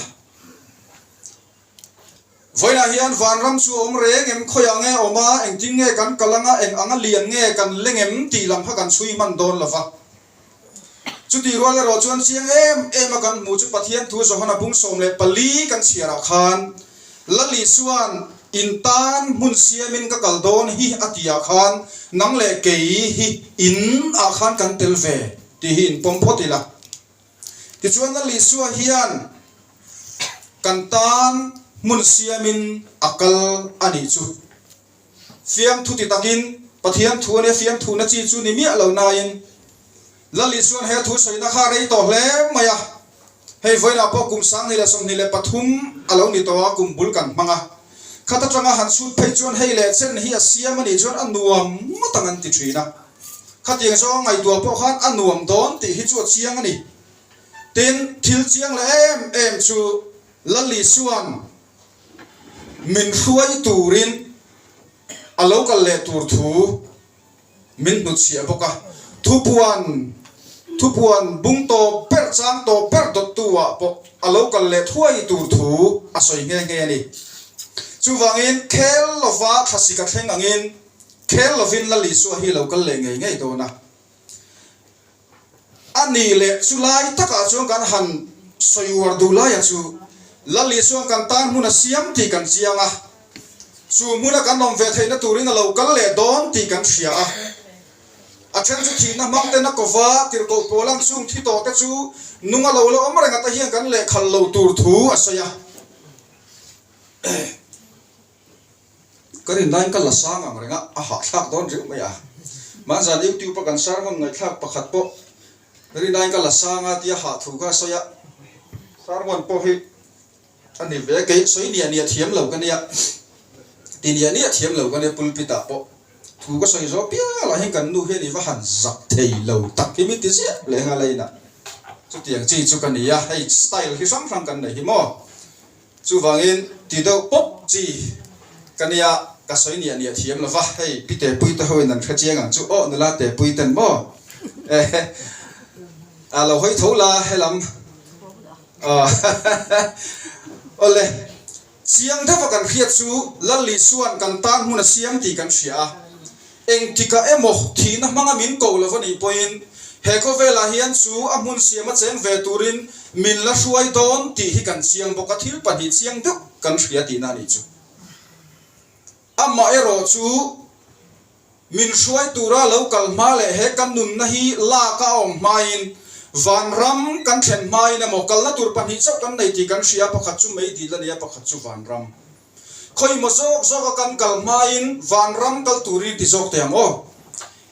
Vawiinah hian vanram chu a awm reng em? Khawiah nge a awm a? Engtin nge kan kal ang a? Eng anga lian nge kan leng em? Tih lam kha kan chhui hman dawn lo va. Chutih rual erawh chuan chiang em em a kan hmu chu Pathian thu Johana bung sawm leh pali kan chhiar ah khan Lali chuan In tan hmun siam in ka kal dawn hi a ti ah khan nang leh kei hi In ah khan kan tel ve. Tih hi in pawm phawt ila. Tichuan a Lisua hian kan tan hmun siamin a kal a nih chu. Fiam thuti takin Pathian thu a nia, fiam thuhna chi chu ni miah lo nain la Lisuan he thu sawina kha a rei tawh hle mai a, Hei vawiinah pawh kum sang hnih leh sawmhnih leh pathum a lo ni tawh a, kum bul kan hmang a. Khat atanga han chhut phei chuan hei leh chen hi a siam a nih chuan a nuam ngawt ang an ti thin a. Khatiang zawng a ngaihtuah pawh khan a nuam dawn tih hi chu a chiang a ni. Tin, thil chiang leh em em chu Lally chuan min hruai turin a lo kal leh tur thu. Min hnut chhiah bawk a, thupuan thupuan bung tawp ber chang tawp ber dawttu ah pawh a lo kal leh thuai tur thu a sawi nghe nghe a ni. Chuvangin khel lova thlasika thleng angin khel lovin la Lisua hi lo kal leh ngei ngei dawn a. A nih leh chu lai takah chuan kan han sawi uar duh laia chu Lali chuan kan tan hmun a siam tih kan chiang a, chu hmuna kan awm ve theihna turin a lo kal leh dawn tih kan hria a. A then chu thihna hmangte na kova tirhkoh pawl ang chung thi tawh te chu nung a lo la awm reng ata hian kan leh khal lo tur thu a sawi a. Ka rin lain ka la sang ang renga a hahthlak dawn reuh mai a. Mahzan YouTube-a kan share hmun ngaihthlak pakhat pawh rin lain ka la sang a tia hahthu kha a sawi a. Share hmun pawh hi a ni ve kei, sawi niah niah thiam lo ka nia, ti niah niah thiam lo ka nia pulpit-ah pawh. Thu ka sawi zawk pial ah hian kan nu hian i va han zak thei lo tak hi mi ti ziah leh ngalain a. Chutiang chi chu ka ni a, hei style hi hrang hrang kan nei hi maw? Chuvangin ti deuh pawp chi ka nia, ka sawi ni a ni a thiam lo va. Hei pi Tepuite ho in an hre chiang ang chu aw nula Tepuiten maw eh a lo hawi tho la helam aw aw le chiang deuh a kan hriat chu Lallisuan kan tan hmun a siam tih kan hria a. Engtikah emaw thihna hmanga min ko lo va nih pawhin he khawvelah hian chu a hmun siam a cheng ve turin min la hruai dawn tih hi kan chiang bawk a, thil pahnih chiang deuh kan hria tihna a nih chu. Amah erawh chu min hruai tura lo kal hma leh he ka nunna hi lak a awm hmain vanram kan then hmain emaw kalna tur pahnih chauh kan nei tih kan hria a, pakhat chu Meidil a ni a, pakhat chu Vanram. Khawi maw zawk zawka kan kal hmain vanram kal turin ti zawk teh ang aw.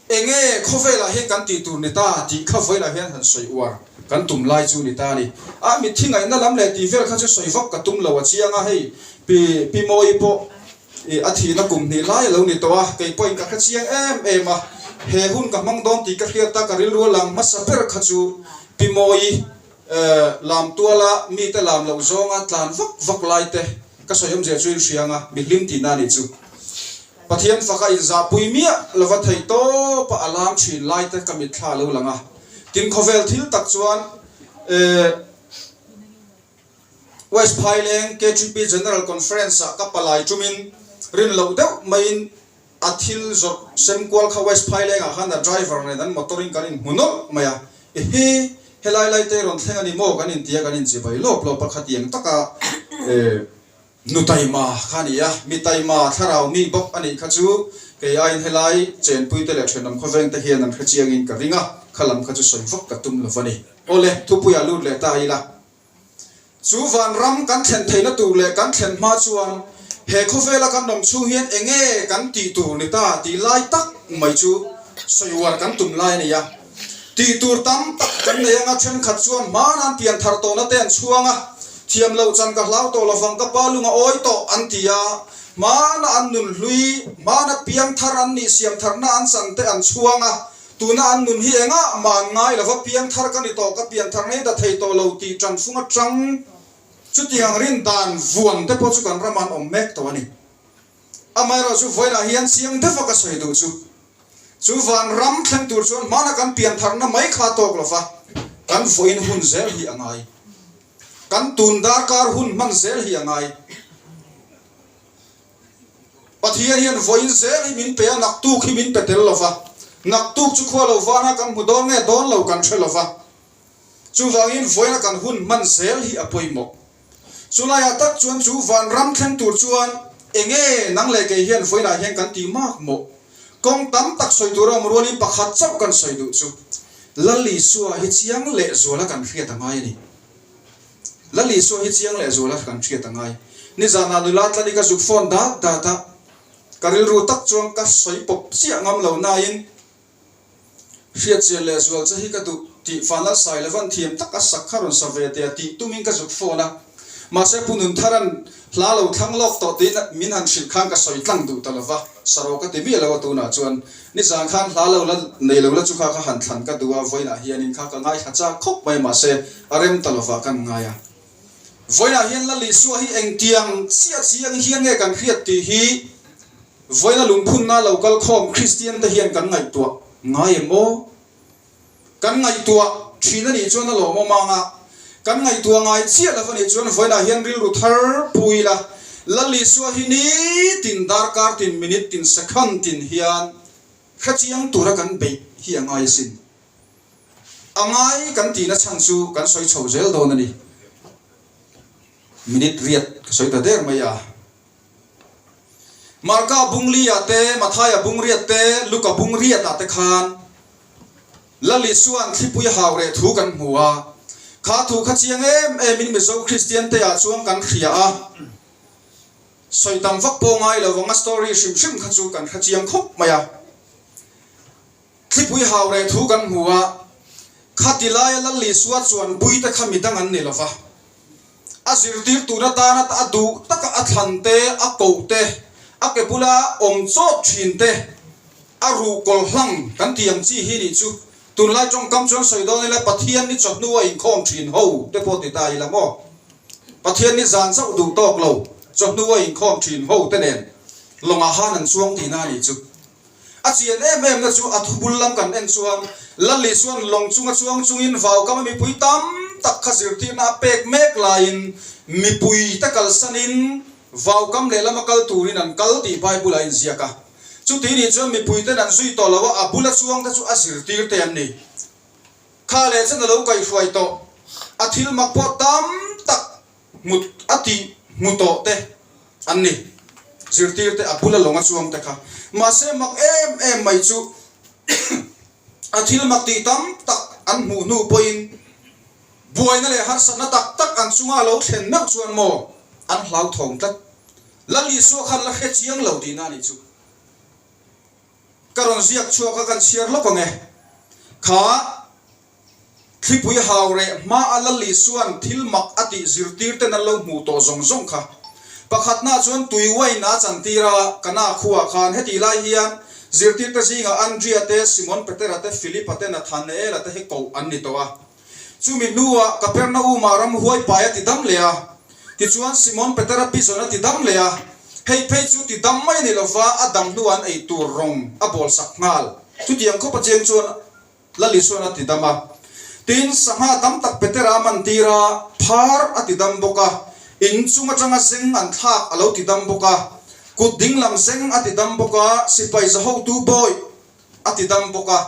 Enge khawvelah hian kan tih tur ni ta tih kha vawilah hian han sawi uar kan tum lai chu ni ta a ni. A mitthi ngaihna lam leh tih vel kha chu sawi vak ka tum lo a chiang a, hei Pi Pi Mawi pawh ih a thihna kum hnih lai a lo ni tawh a, kei pawhin ka hrechiang em em a, he hun ka hmang dawn tih ka hriat a ka rilru a lang hmasa ber kha chu Pi Mawi. Lamtuala mite lam loh zawnga tlan vak vak laite ka sawi awmzia chu in hriang a, mi hlim tihna a nih chu. Pathian faka inzahpui miah lova thei tawpa a lam thin laite ka mitthla a lo lang a. Tin khawvel thil tak chuan West Phaileng KTP General Conference-ah ka palai tumin rin loh deuh maiin A thil zawrh sem kual kha West Phaileng ah khan a driver nen an motor in kan in hmu nawlh mai a, e hi helai lai te rawn thleng a ni maw kan in ti a kan in chi bai lawp lawp a kha tiang tak a e. Nu Taima kha a ni a, mi Taima thlarau mi bawk a nih kha chu kei aiin helai chenpui te leh thenawm khawveng te hian an hre chiang in ka ring a, khalam kha chu sawi vak ka tum lo a ni. Aw le, thupuia lut leh ta ila, Chu vanram kan thlen theihna tur leh kan thlen hma chuan he khawvela kan awm chhung hian eng nge kan tih tur ni ta tih lai tak mai chu sawi uar kan tum lai a ni a. Tih tur tam tak kan nei anga thenkhat chuan hmang an pian thar tawh na te an chhuang a, thiam lo chan ka hlau tawh lovang ka pa lung a awi tawh an ti a, hmana an nun hlui, hmana piang thar an nih siam tharna an chan te an chhuang a, Tuna an nun hi engah man ngai lo va piang thar ka ni tawh, ka pian thar ngei ta thei tawh lo tih ṭan sung aṭang. Chutiang rin dan vuan te pawh chu kan ram an awm mek tawh a ni. Amaherawh chu vawilah hian chiang deuh a ka sawi duh chu. Chu van ram thleng tur chuan hmana kan pian tharna mai kha tawk lo va, kan vawiin hun zel hi a ngai. Kan tun darkar hun hman zel hi a ngai. Pathian hian vawiin zel hi min pe a, naktuk hi min pe tel lo va. Naktuk chu khua lo vana kan hmu dawn nge dawn lo kan hre lo va. Chuvangin vawiina kan hun hman zel hi a pawimawh. Chulaiah tak chuan chu vanram thleng tur chuan enge nang leh kei hian vawiinah hian kan ti mak maw? Kawng tam tak sawi tur awm rualin pakhat chauh kan sawi duh chu Lal Isua hi chiang lehzuala kan hriat a ngai a ni. Lal Isua hi chiang leh zual a hran ṭhiat a ngai. Nizan ah nula Tlalik a zuk fawn dat dat a, ka rilru tak chuan ka sawi pawp chiah ngam lo nain, Hriatchian leh zual che hi ka duh tih Fanlal Sailova an thiam tak a, sak kha rawn sa ve tia tih tumin ka zuk fawn a. Mahse, Pu Nuntharan Hla lo thlang lawk tawh tiin min han hrilh khan ka sawi tlang duh ta lova, Saro ka ti miah lo a tunah chuan nizan khan hla lo la nei lo la chu kha ka han thlan ka duh a, vawiinah hianin kha ka ngaithla chak khawp mai mahse a rem ta lovah kan ngai a. Vawiinah hian la Lisua hi engtiang chiah chiang hian nge kan hriat tih hi vawiina lungphunna lo kal khawm Kristian te hian kan ngaihtuah ngai em aw? Kan ngaihtuah thin a nih chuan a lawm awm ang a, kan ngaihtuah ngai chiah lo a nih chuan vawiinah hian rilru thar pui ila, lal lih suah hi ni tin darkar tin minute tin second tin hian hrechiang tura kan beih hi a ngai asin. A ngai kan tina chhan chu kan sawi chho zel dawn a ni. Minute riat ka sawi ta der mai a. Marka a bung li ah te, Matthai a bung riat te, Luke a bung riat ah te khan Lali chuan thlipui hau reh thu kan hmu a. Kha thu kha chiang em em in Mizo Kristian te ah chuan kan hria a, sawi tam vak pawh ngai lo vang a story hrim hrim kha chu kan hre chiang khawp mai a. Thlipui hau reh thu kan hmu a, kha ti laia lal lih suah chuan buite kha mi dang an ni lova, a zirtir tur atan a a duh taka a thlan te, a koh te, a ke bula awm chawt thin te, a ruh kawl hlang kan tih ang chi hi nih chu, tunlai tawngkam chuan sawi dawn ila Pathian ni chawhnu a inkhawm thin ho te pawh ti ta ila maw? Pathian ni zan chauh duh tawk lo chawhnu a inkhawm thin ho te nen lawngah han an chuang tihna a nih chu. A chian em em na chu a thu bul lam kan en chuan Lali chuan lawng chunga chuang chungin vaukama mipui tam tak kha zirtirhna a pek mek laiin mipui te kalsanin vaukam lehlam a kal turin an kal tih Bible-a inziak a. Chuti nih chuan mipuiten an zui tawh loh a, a bula chuang te chu a zirtir te an ni. Kha leh chuan a lo kaihruai tawh. A thil mak pawh tam tak Hmut a tih hmu tawh te an ni. Zirtir te a bula lawng a chuang te kha. Mahse mak em em mai chu a thil mak tih tam tak an hmuh hnu pawhin buaina leh harsatna tak tak an chunga lo thlen meuh chuan maw an hlauthawng tlat. Lali saw khan la hre chiang lo tihna anih chu. Ka rawn ziak chhuak a, kan chhiar lawk ang e. Kha. Thlipui hau reh hma a Lali chuan thil mak a tih zirtir ten an lo hmuh tawh zawng zawng kha. Pakhat hna chuan tui wine a chan tir a, ka na khuaa khan heti lai hian zirtir te zingah Andrea te, Simon Petera te, Filipa te, Nathanaela te hi koh an ni tawh a. Chumi hnuah Kapernauma ram huai pai a ti dam leh a. Tichuan Simon Petera pi zawn a ti dam leh a. Hei phei chu ti dam mai a ni lova a dam hnuah an ei tur rawng a bawlsak nghal. Chutiang khawpa chiang chuan. Lalisuan a ti dam a. Tin, sangha tam tak Petera man tir a, phar a ti dam bawk a. In chung atanga zeng an thlak a lo ti dam bawk a. Kut ding lam zeng a ti dam bawk a, sipai zahotu bawi a ti dam bawk a.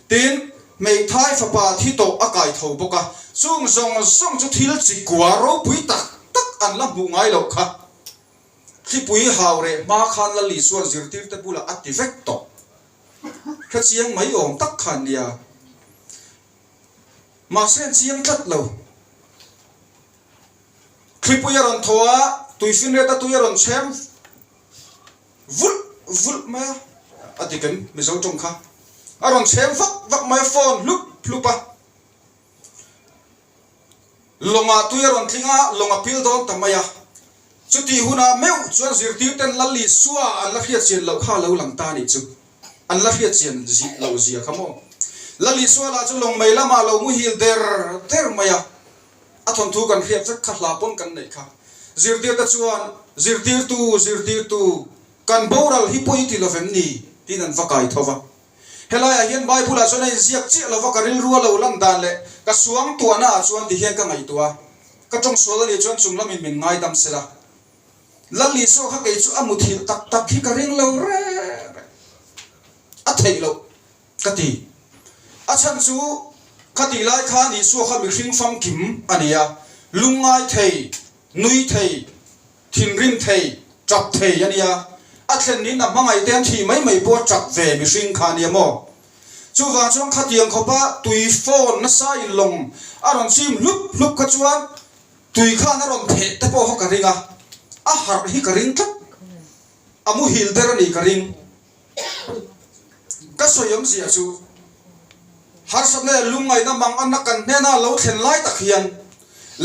Tin, hmeithai fapa hi tawh a kai tho bawk a. Chung zawng zawng chu thil chi kua ropui tak tak an la hmuh ngai loh kha. Tlipui hau reh hma khan Lalisuan zirtirte bulah a ti vek tawh. Ka chiang mai awm tak kha an ni a, mahse an chiang tlat lo. Thlipui a rawn thaw a, tuifinreta tui a rawn chhem vulh vulh mai a, a diken Mizo tawng kha a rawn chhem vak vak mai a, phone hlup hlup a. lawngah tui a rawn tling a lawng a pil dawn ta mai a chutih hunah meuh chuan zirtir ten lal leh sua an la hriat chian loh kha a lo lang ta nih chu an la hriat chian zih loh zia kha maw lal leh sua lah chu lawng mai lam ah lo muhil der der mai a a thawn thu kan hriat vek kha hla pawn kan neih kha zirtir te chuan zirtir tu zirtir tu kan boral hi pawh i ti lovem ni tiin an va kai tho va. Helaiah hian Bible-ah chuan a inziak chiah lova ka rilru a lo lan dan leh ka suangtuahnaah chuan tihian ka ngaihtuah a, ka tawng sual anih chuan chung lamin min ngaidam sela. Lal Isua kha kei chu a muthilh tak tak hi ka ring lo rek rek a theih loh ka ti. A chhan chu khatih lai khan Isua kha mihring famkim a ni a, lungngai thei, nui thei, Thinrim thei, ṭap thei a nia. A thlen niin a hmangaih te an thi mai mai pawh a ṭap ve mihring kha a nia maw? Chuvang chuan khatiang khawpa tui fawn nasa in lawng a rawn chim hlup hlup kha chuan tui khan a rawn theh te pawh kha ka ring a, a harh hi ka ring tlat, a muhil ber a nih ka ring. ka sawi awm ziah chu harsa nen lungngaihna mang anna kan hnena lo thlen lai tak hian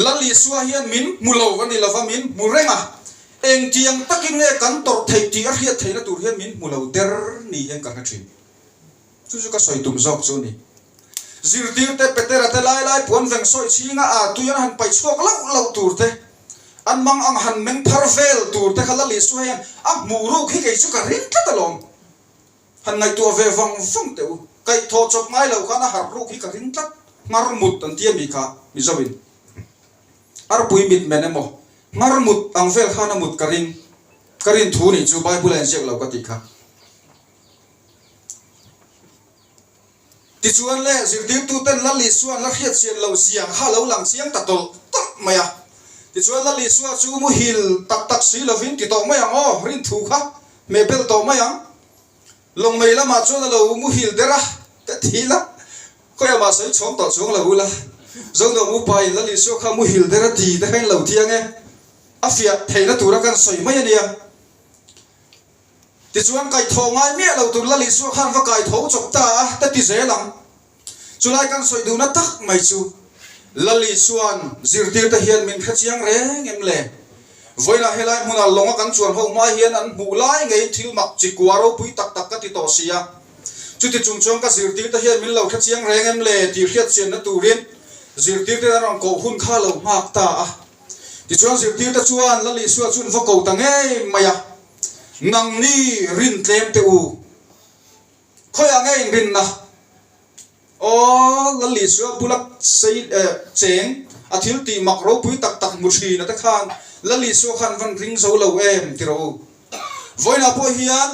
lal isua hian min hmu lo va ni lova min hmu reng a engtiang takin nge kan tawrh theih tih a hriat theihna tur hian min hmu lo der ni hian ka hre thin chu chu ka sawi tum zawk chu ni zirtirte petera te lai lai puan veng sawi chhinga a tui an han paih chhuak loh loh tur te an mang ang han meng phar vel tur te kha Lal Isuha hian a hmu ruk hi kei chu ka ring tlat alawm, han ngaihtuah ve vang vang teh u, kaihthawh chawp ngai lo khan a harh ruk hi ka ring tlat, Ngarmut an ti a mi kha Mizo in, Arpui mitmen emaw Ngarmut ang vel khan a mut ka ring, ka rin thu nih chu Bible a inziak lo ka tih kha. Tichuan leh zirtirtuten Lal Isua an la hriatchian lo zia kha a lo lang chiang ta tawlh tawlh mai a. Tichuan Lal Isua chu muhil tak tak si lovin ti tawh mai ang aw, rinthu kha hmeh belh tawh mai ang. Lawngmei lamah chuan a lo muhil der a, ka ti ila, khawi amah sawi chhawng tawh chuang lo ula, Zondawng upa in Lal Isua kha muhil der a ti te kha in lo tiang e, a fiah theihna tura kan sawi mai a nia. Tichuan, kaithaw ngai miah lo tur Lali suak han va kaitho chawp ta a ka ti zel ang. Chulai kan sawi duhna tak mai chu Lali chuan zirtir te hian min hre chiang reng em le? Vawiinah helai hmuna lawng a kan chuan ho hma hian an hmuh lai ngei thil mak chi kua ropui tak tak ka ti tawh si a. Chuti chung chuan ka zirtir te hian min lo hre chiang reng em le tih hriat chianna turin zirtir ten an rawn koh hun kha lo nghak ta a. Tichuan zirtir te chuan Lali suak chu an va ko ta ngei mai a. Nang ni rin tlem teh u. Khawiah nge inrinna? Aww, Lal Isua bula sei eh cheng a thil tih mak ropui tak tak hmu thin ate khan Lal Isua khan van ring zo lo em ti rawh u. Vawiinah pawh hian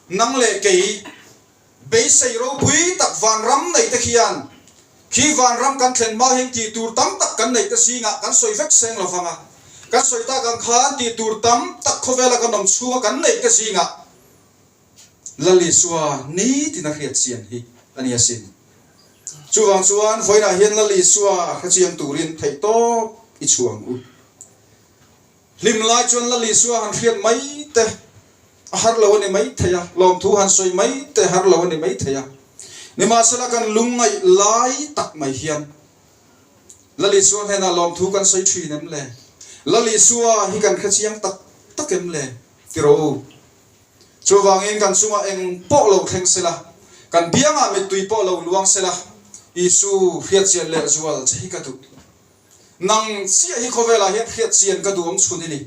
nang leh kei. Beisei ropui tak vanram neite khian khi vanram kan thlen mau hian ti tur tam tak kan neite zingah kan sawi vek seng lo vang a, kan sawi tak ang khan ti tur tam tak khawvela kan awm chhunga kan neite zingah Lali Sua ni tiin a hriatchian hi a nia sin. Chuvang chuan vawiinah hian Lali Sua hrechiang turin theihtawp i chhuang u. Hlim lai chuan la Lisua han hriat mai te a har lo a ni maithei a, lawmthu han sawi mai te har lo a ni maithei a. Nimahsela kan lungngaih lai tak mai hian la Lisua hnenah lawmthu kan sawi thin em le? La Lisua hi kan hre chiang tak tak em le? ti rawh u. Chuvangin kan chunga eng pawh lo thleng sela, kan biangah mittui pawh lo luang sela Isu hriatchian leh zual che hi ka duh. Nang chiah hi khawvelah hian hriatchian ka duh awm chhun i ni.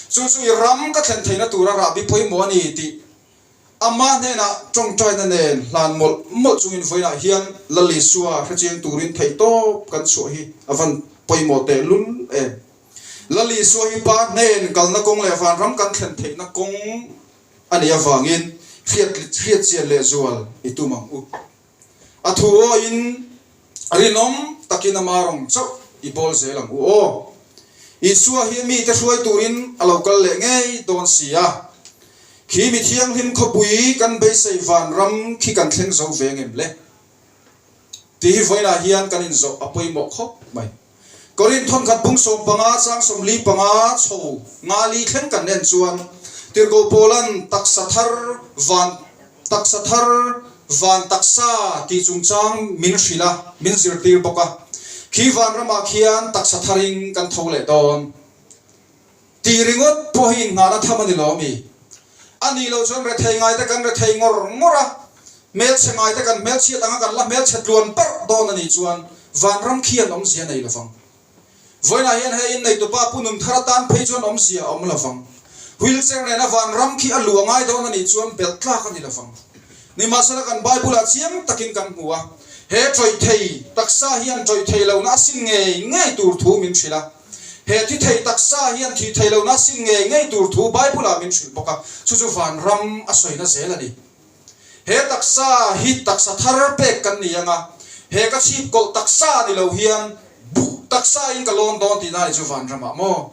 Chu chu i ram ka thlen theihna tura rah bi pawimawh a ni tih amah hnenah tawngtaina nen hlan mawlh mawlh chungin vawiinah hian Lal Isua hrechiang turin theih tawp kan chhuah hi a van pawimawh teh lul em. Lal Isua hi pa hnen kalna kawng leh vanram kan thlen theihna kawng a nih avangin hriat hriatchian leh zual i tum ang u. A thu aw in rinawm takin ama rawng chauh i pawl zel ang u aw. Isua hi mite hruai turin a lo kal leh ngei dawn si a. Khi mi thianghlim khawpui kan beisei vanram khi kan thleng zo ve ngem le? Tih hi vawiinah hian kan inzawh a pawimawh khawp mai. Korin thawnkhat pung sawm panga chang sawm li panga chho nga li thleng kan en chuan tirhko pawn taksa thar van taksa thar van taksa tih chung chang min hrilh a, min zirtir bawk a. Khi vanramah khian taksa tharin kan tho leh dawn. Tih ringawt pawh hi inhmahna tham a ni lo ami? A nih loh chuan rethei ngaite kan rethei ngawr ngawr a, hmelchhe ngaite kan hmelchhiat ang a, kan la hmelchhe tluan parh dawn a nih chuan vanram khi an awmzia nei lovang. Vawiinah hian he inneitup pa Pu Nunthar atan phei chuan awmzia a awm lovang. Wheelchair nena vanram khi a lu a ngai dawn a nih chuan belh tlak a ni lovang. Nimahsela kan Bible ah chiang takin kan hmu a, he tawihthei taksa hian tawihthei lohna a sin ngei ngei tur thu min hrilh a, He ti thei taksa hian thih theih lohna sin ngei ngei tur thu Bible-ah min hrilh bawk a, chu chu van ram a sawina zel a ni. He taksa hi taksa thar pek kan ni anga, he ka chhip kawlh taksa a ni lo hian buk taksa in ka lawn dawn tihna ni chu van ramah maw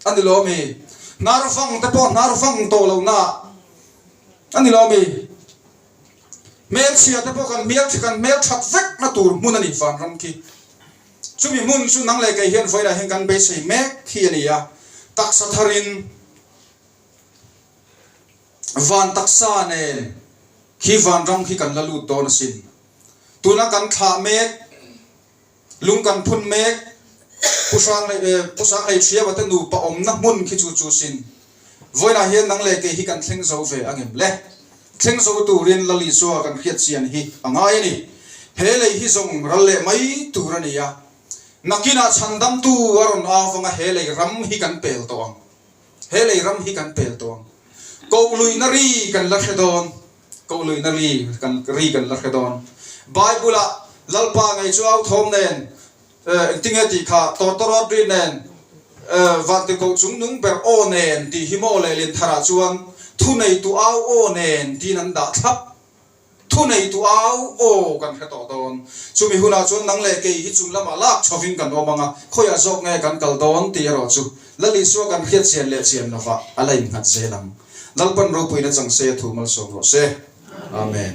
a ni lawm i? Hnar vang te pawh hnar vang tawh lohna a ni lawm i? Hmelchhia te pawh kan hmelchhe kan hmelthat vekna tur hmun a ni van ram khi. Chumi hmun chu nang leh kei hian vawilah hian kan beisei mek hi a ni a, taksa tharin van taksa nen khi van ram khi kan la lut dawn a sin. Tuna kan thlah mek, lung kan phun mek, pu hrang leh, pu sang leh thiamate nupa awmna hmun khi chu chu sin. vawilah hian nang leh kei hi kan thleng zo ve a ngem le. Thleng zo turin Lali chuan kan hriatchian hi a ngai a ni. He lei hi zawng ral leh mai tur a nia. Nakinah chhandamtu a rawn au vanga he lei ram hi kan pel tawh ang. He lei ram hi kan pel tawh ang. Kohluina ri kan la hre dawn. Kohluina ri kan ri kan la hre dawn. Bible-ah Lalpa ngei chu authawm nen. Engtinge tih kha Tortorot ri nen Vante koh chung nung ber aw nen tih hi maw leh lentharh ah chuan Thu nei tu au aw nen tiin an dah thlap. Thu nei tu au aw kan hre tawh dawn. Chumi hunah chuan nang leh kei hi chung lamah lak chho in kan awm ang a, khawiah zawk nge kan kal dawn tih erawh chu Lali chu a kan hriat chian leh chian lova a la innghat zel ang. Lalpan ropuina chang se thu malsawm rawh se. Amen.